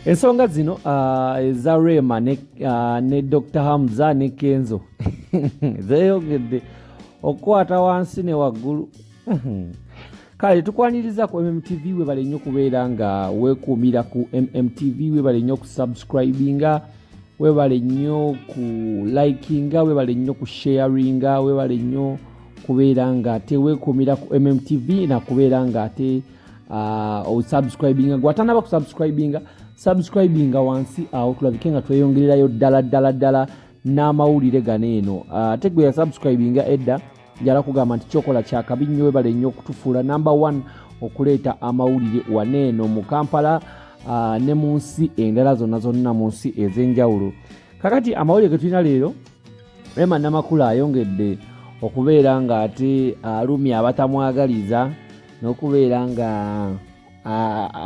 ensonga zino ah, eza rema ne, ah, ne dr hamza ne kenzo zeyogedde okukwata wansi ne waggulu kale tukwaniriza ku mmtv webale nnyo okubeera nga wekuumira ku mmtv webale nnyo okusubscribinga webale nnyo ku likinga webale nnyo ku sharinga webale nnyo kubeera nga tewekuumira ku mmtv nakubeera nga ate uh, osubscribinga gwatanaba kusubscribinga subscribinga wansi awo tulabike nga tweyongererayo ddala ddala ddala n'amawulire gano eno uh, ate gwe yasubscribinga edda njala kugamba nti kyokola kyakabi nnyo webale nnyo okutufuula number one okuleeta amawulire waneeno mu kampala uh, ne mu nsi endala zonna zonna mu nsi ez'enjawulo kakati amawulire ge tulina leero rema namakula ayongedde okubeera ng'ate alumya abatamwagaliza n'okubeera nga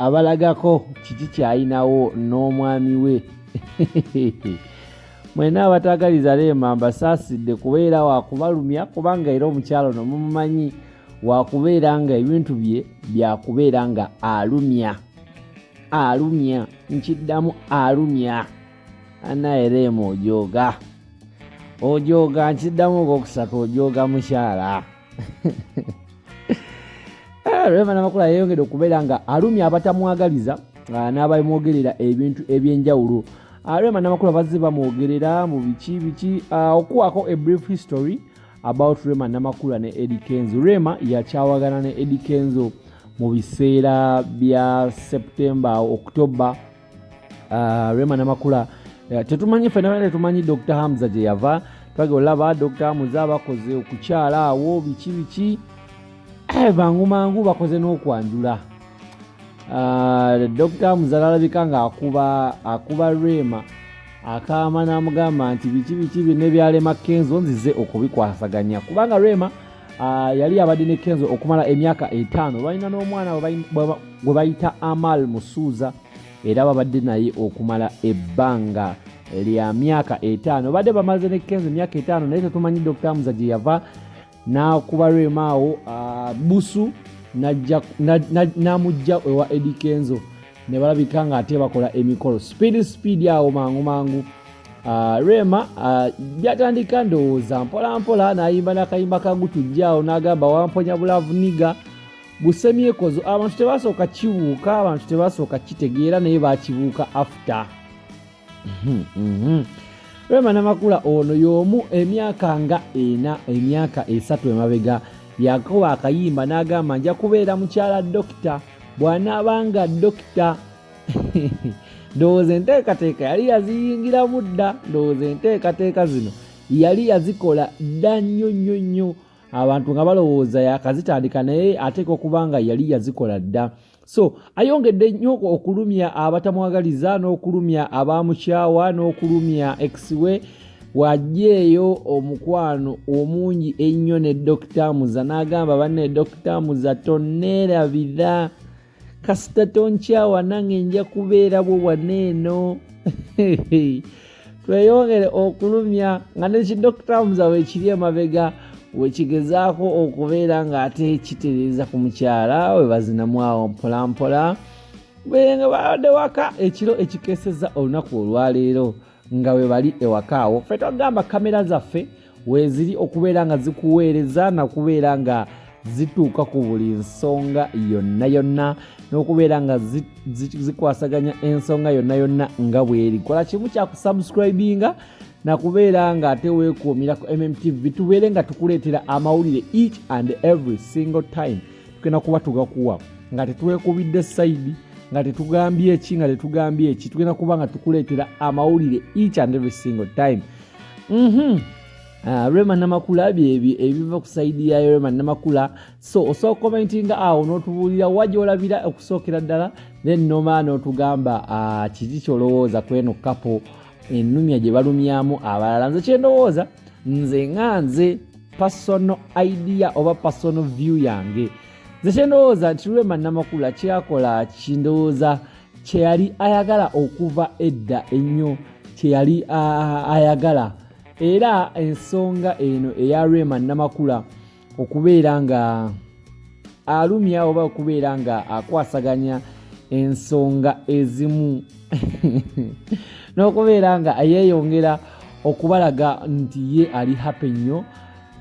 abalagako kiki kyalinawo n'omwami we mwena abatagaliza leema mbasaasidde kubeera wakubalumya kubanga era omukyalo no mumumanyi wakubeera nga ebintu bye byakubeera nga alumya alumya nkiddamu alumya anaye leema ojooga ojooga nkiddamu ogwokusatu ojooga mukyala Eh, rema namakula yeyongedde okubeera nga alumya abatamwagaliza ah, n'abamwogerera ebintu ebyenjawulo ah, rema namakula bazze bamwogerera mu biki biki ah, okuwaako a brief history about rema namakula ne edi kenzo rema yakyawagana ne edi kenzo mu biseera bya september october uh, rema namakula uh, tetumanyi fena tetumanyi dr hamza gye yava twagala olaba dr muza bakoze okukyala awo biki biki eh, bangu mangu bakoze n'okwanjula uh, dr muza lalabika nga akuba akuba rema akaama n'amugamba nti biki biki bine byalema kenzo nzize okubikwasaganya kubanga rema Ah, yali abadde ne kenzo okumala emyaka etaano balina n'omwana gwe bayita amal musuuza era babadde naye okumala ebbanga lya myaka etaano badde bamaze ne kenzo emyaka etaano naye tetumanyi dr muza gye yava n'akuba rwemaawo ah, busu n'amujja ewa edi kenzo ne balabika ng'ate bakola emikolo sipiidi sipiidi awo mangu mangu uh, rema byatandika uh, ndowooza mpolampola n'ayimba n'akayimba kagutujja awo n'agamba wamponya bulavu niga busemyekozo abantu tebasooka kibuuka abantu tebasooka kitegeera naye bakibuuka after Mhm, mhm. Rema Namakula ono y'omu emyaka nga ena emyaka esatu emabega yakoba akayimba n'agamba nja kubeera mukyala dokita bw'anaaba nga dokita ndowooza enteekateeka yali yaziyingiramu dda ndowooza enteekateeka zino yali yazikola dda nnyo nnyo nnyo abantu nga balowooza yakazitandika naye ateeka okuba nga yali yazikola dda so ayongedde nnyo okulumya abatamwagaliza n'okulumya abamukyawa n'okulumya exiwe wajeeyo omukwano omungi ennyo ne dokita muza n'agamba banne dokita muza toneerabira kasita tonkyawa nange nja kubeera bwo waneeno tweyongere okulumya nga ne kidokita muza wekiri emabega wekigezaako okubeera ng'ate kitereeza ku mukyala we bazinamu awo mpolampola berenga babadde waka ekiro ekikeseza olunaku olwaleero nga we bali ewaka awo fe twagamba kamera zaffe weeziri okubeera nga zikuweereza nakubeera nga zituuka ku buli nsonga yonna yonna n'okubeera nga zikwasaganya ensonga yonna yonna nga bweri kola kimu kyakusubscribinga nakubeera nga ate weekuumira ku mmtv tubeere nga tukuleetera amawulire each and every single time tugenda kuba tugakuwa nga tetwekubidde sayidi nga tetugambye eki nga tetugambye eki tugenda kuba nga tukuleetera amawulire each and every single time mhm. ah, rema namakula byebyo ebiva ku saidi ya rema namakula so osobola okukomentinga awo n'otubuulira wa gyolabira okusookera ddala then noma n'otugamba ah, kiki kyolowooza kweno kapo enumya gye balumyamu abalala nze kyendowooza nze nga nze personal idea oba personal view yange nze kyendowooza nti lwema namakula kyakola kindowooza kye yali ayagala okuva edda ennyo kye yali ayagala era ensonga eno eya rema namakula okubeera nga alumya oba okubeera nga akwasaganya ensonga ezimu n'okubeera nga yeeyongera okubalaga nti ye ali happy nnyo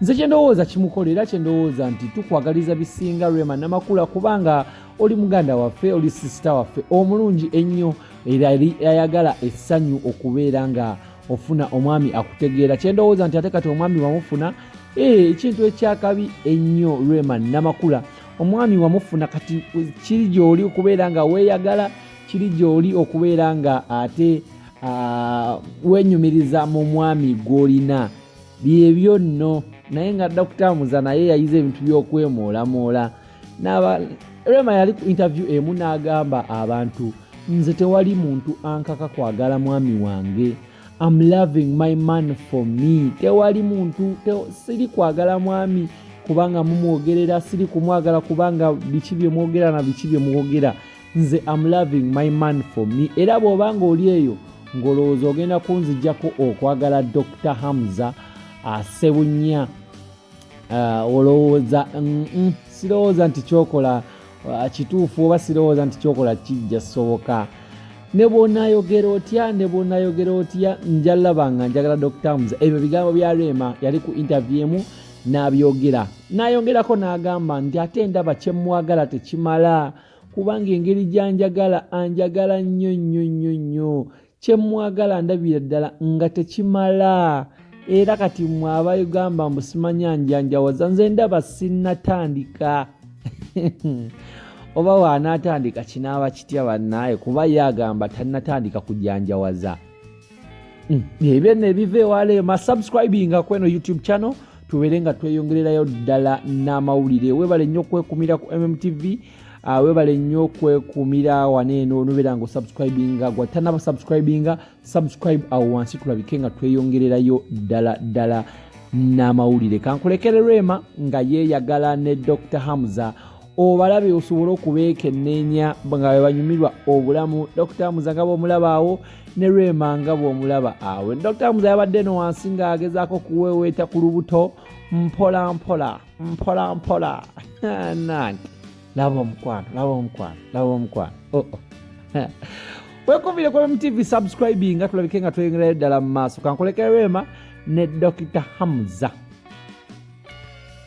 nze kyendowooza kimukola era kyendowooza nti tukwagaliza bisinga rema namakula kubanga oli muganda waffe oli sisita waffe omulungi ennyo era eri ayagala essanyu okubeera nga ofuna omwami akutegeera kyendowooza nti ate kati omwami wamufuna eh, ekintu ekyakabi ennyo rema namakula omwami wamufuna kati kiri gyoli okubeera nga weeyagala kiri gyoli okubeera nga ate ah, wenyumiriza mu mwami gwolina byebyo nno naye nga dakutamuza naye yayize ebintu by'okwemoolamoola rema yali ku interview emu n'agamba abantu nze tewali muntu ankaka kwagala mwami wange am loving my man for me tewali muntu te, siri kwagala mwami kubanga mumwogerera siri kumwagala kubanga biki byemwogera na biki byemwogera nze am loving my man for me era bw'oba nga oli eyo ng'olowooza ogenda kunzijako okwagala dr hamza asebunya ah, uh, olowooza mm -mm, sirowooza nti kyokola uh, kituufu oba sirowooza nti kyokola kijja soboka ne bwonayogera otya ne bwonayogera otya njalaba nga njagala dr hamza ebyo bigambo bya rema yali ku intervie emu n'abyogera n'ayongerako n'agamba nti ate ndaba kyemwagala tekimala kubanga engeri gy'anjagala anjagala nnyo nnyo nnyo nnyo kye mmwagala ndabira ddala nga tekimala era kati mmwe abayugamba mbu simanya njanjawaza nze ndaba sinnatandika oba waanaatandika kinaaba kitya bannaaye kuba ye agamba tannatandika kujanjawaza mm. ebyo nno ebiva ewala eyo masubscribinga kweno youtube channel tubeere nga tweyongererayo ddala n'amawulire webale nnyo okwekumira ku mmtv ah, webale nnyo okwekumira wana eno nobeera nga osubscribinga gwatanaba subscribinga subscribe awo wansi tulabike nga tweyongererayo ddala ddala n'amawulire kankulekererwema nga yeeyagala ne dr hamza obalabe osobole okubeekenneenya nga bwe banyumirwa obulamu dokita muza nga bw'omulaba awo ne lwema nga bw'omulaba awo dokita muza yabadde eno wansi ng'agezaako okuweeweeta ku lubuto mpola mpola mpola mpola nange laba omukwano laba omukwano laba omukwano oh, oh. wekumire ku mtv subscribing nga tulabike nga tweyongerayo ddala mu maaso kankulekera lwema ne dokita hamza